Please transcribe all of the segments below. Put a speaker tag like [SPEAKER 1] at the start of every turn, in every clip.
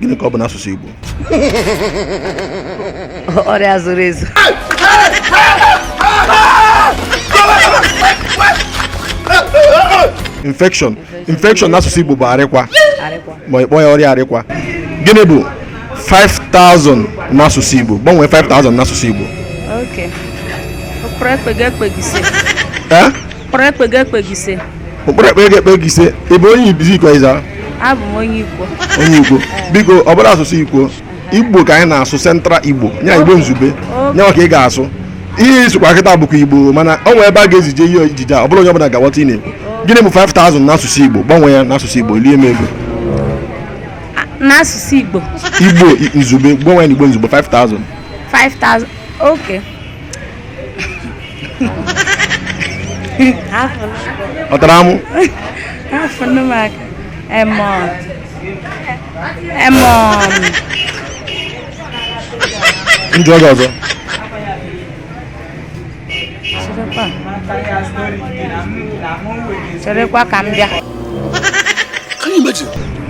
[SPEAKER 1] gịnị ka ọ bụ n'asụsụ
[SPEAKER 2] Igbo ọrịa zoro
[SPEAKER 1] ezo infection infection n'asụsụ Igbo bụ arịkwa ma ịkpọ ya ọrịa arịkwa gịnị bụ 5000 n'asụsụ Igbo gbanwee 5000 n'asụsụ Igbo okay
[SPEAKER 2] ụkporo ekpa ego ekpa ego ise eh?
[SPEAKER 1] Ụkporo ekpa ego ekpa ego ise. Ụkporo ekpa ego ekpa ego ise. Ị bụ onye ebee Izzi Ikwo Ezza?
[SPEAKER 2] Abụ m onye Ikwo. Onye
[SPEAKER 1] Ikwo. Biko, ọ bụrọ asụsụ Ikwo. Igbo ka anyị na-asụ Central Igbo. Nya Igbo izugbe. Nya nwa ka ị ga-asụ. Ihe ị sụkwa kịta bụkwa Igbo mana o nwere ebe a ga-ezije ihe ejije a ọ bụrọ onye ọbụla ga-aghọta ihe ị na-ekwu. Gịnị bụ 5000 n'asụsụ Igbo? Gbanwee ya n'asụsụ Igbo, lie m ego.
[SPEAKER 2] N'asụsụ Igbo. Igbo izugbe,
[SPEAKER 1] gbanwee n'Igbo izugbe 5000. 5000.
[SPEAKER 2] Okay.
[SPEAKER 1] ọ tara amụ afọ nne m aka emọ emọ m jụọ gị ọzọ
[SPEAKER 2] cherekwa cherekwa ka m bịa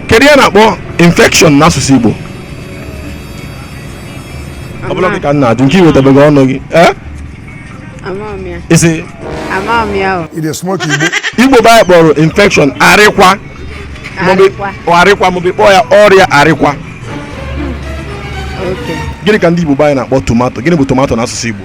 [SPEAKER 1] kedu ihe a na-akpọ infection n'asụsụ igbo ọ bụrọ gị ka m na-ajụ nke i wetabeghị ọnụ gị eh? ị sị igbo bụ anyị kpọrọ infection arịkwa arịkwa maọbụ kpọọ ya ọrịa arịkwa gịnị ka ndị igbo bụ anyị na-akpọ tomato gịnị bụ tomato n'asụsụ igbo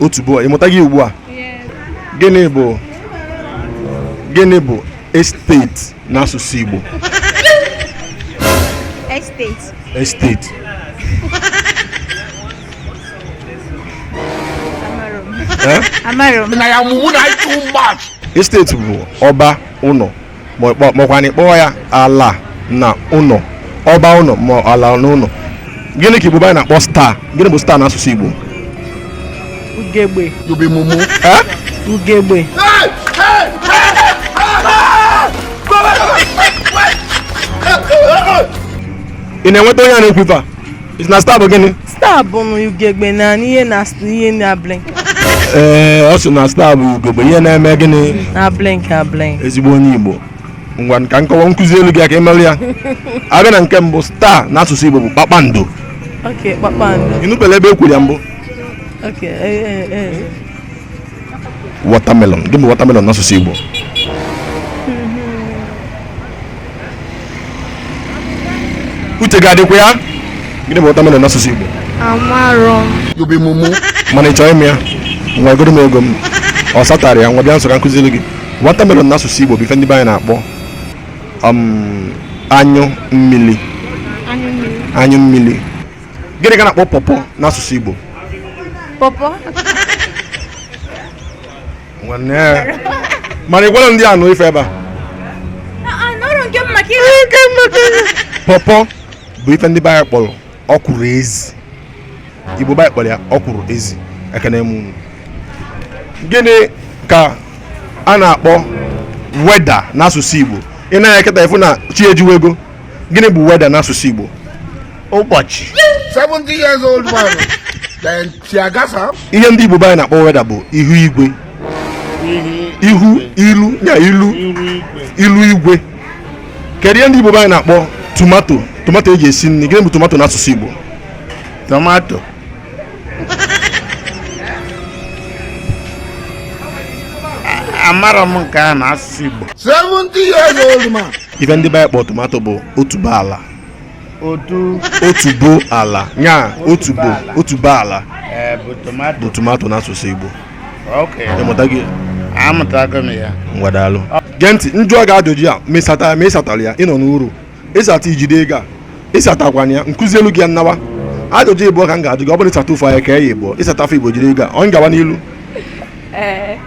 [SPEAKER 1] otubo ị mụtago ugbu a gịnị bụ gịnị bụ estate n'asụsụ Igbo
[SPEAKER 3] estate estate amarọ m na ya mụmụ na ịtụ mgbach estate
[SPEAKER 1] bụ ọba ụnọ makwana ị kpọọ ya ala na ụnọ ọba ụnọ ma ala na ụnọ gịnị ka igbo bụ anyị na-akpọ star gịnị bụ star n'asụsụ igbo
[SPEAKER 2] ugegbe
[SPEAKER 1] ugegbe ị na-enweta onye a na-ekwu ife a Ị sị na star bụ gịnị? Star bụ
[SPEAKER 3] na ugegbe na ihe na ihe na blink. Ee, eh,
[SPEAKER 1] ọ sị na star bụ ugegbe ihe na-eme gịnị? Na blink na
[SPEAKER 3] blink. Ezigbo onye Igbo.
[SPEAKER 1] Ngwa ka m kọwaa m kuzielụ gị aka e melụ ya. A bịa na nke mbụ star n'asụsụ Igbo bụ kpakpando. Ok, kpakpando. Ị nụbela ebe e kwuru ya mbụ? Ok, ee eh, ee. Eh, watermelon gịnị bụ watermelon n'asụsụ Igbo uche ga-adịkwa ya gịnị bụ watermelon n'asụsụ Igbo amarọ you be mumu mana ị chọọ ịma ya nyegodu m ego m ọ satarọ ya ngwa bịa nso ka m kuzielu gị watermelon n'asụsụ Igbo bụ ife ndị be anyị na-akpọ um, anyụ mmiri anyụ mmiri anyụ mmiri gịnị ka a na-akpọ pawpaw n'asụsụ Igbo pawpaw nwanne mana ị gwara ndị anụ ife ebe a pawpaw bụ ife ndị be anyị kpọrọ ọkwụrụ ezi Igbo be anyị kpọrọ ya ọkwụrụ ezi ekene m unu gịnị ka a na-akpọ weather n'asụsụ Igbo ị na-eketa efu na chi ejiwego gịnị bụ weather n'asụsụ Igbo ụbọchị
[SPEAKER 4] 70 years old man then tiagasa ihe ndị Igbo be anyị na-akpọ
[SPEAKER 1] weather bụ ihu igwe ihu ilu ya ilu ilu igwe kedu ihe ndị Igbo be anyị na-akpọ tomato tomato e ji esi nri gịnị bụ tomato n'asụsụ Igbo
[SPEAKER 4] tomato amarọ m nke a n'asụsụ Igbo 70 years old man ife ndị be anyị kpọ
[SPEAKER 1] tomato bụ otubo ala otubo ala nya otubo otubo ala eh, bụ tomato
[SPEAKER 4] n'asụsụ
[SPEAKER 1] Igbo ị mụtago ngwa daalụ gee ntị m jụọ gị ajụjụ a ma ị satara ma ị satarọ ya ị nọ n'uru ị sata i jide ego a ị satakwana ya m kuzielu gị ya m nawa ajụjụ ịbụọ ka m ga-ajụ gị ọ bụrụ ị sata ofu anyị kee ya ịbụọ ị sata fa ịbụọ jide ego a ọ gawa n'ilu eh.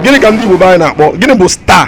[SPEAKER 1] gịnị ka ndị Igbo be anyị na-akpọ gịnị bụ star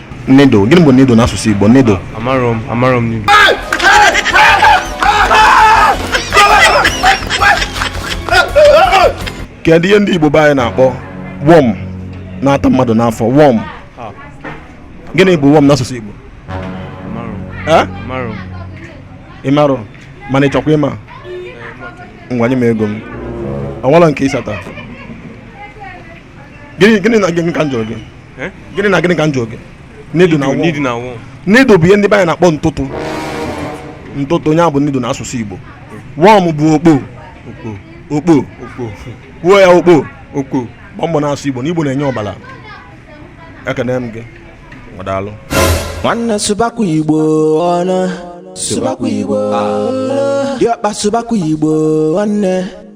[SPEAKER 1] Needle, gịnị bụ needle n'asụsụ Igbo? Needle. Amarọ m, amarọ m needle. Kedu ihe ndị Igbo be anyị na-akpọ worm na-ata mmadụ n'afọ worm? Gịnị bụ worm n'asụsụ Igbo? Ị marọ mana ị chọkwa ịma ngwa nye m ego m o nwerọ nke ị sata gịnị na gịnị ka m jụrụ gị eh? gịnị na gịnị ka m jụrụ gị needle na worm needle bụ ihe ndị be anyị na-akpọ ntụtụ ntụtụ ọ ya bụ needle n'asụsụ igbo worm bụ okpo okpo kwuo ya okpo okpo gbaa mbọ na-asụ igbo na igbo na-enye ọbara ekene m gị daalụ
[SPEAKER 5] nwanne sụbakwa igbo unu sụbakwa igbo ah. diọkpa sụbakwa igbo nwanne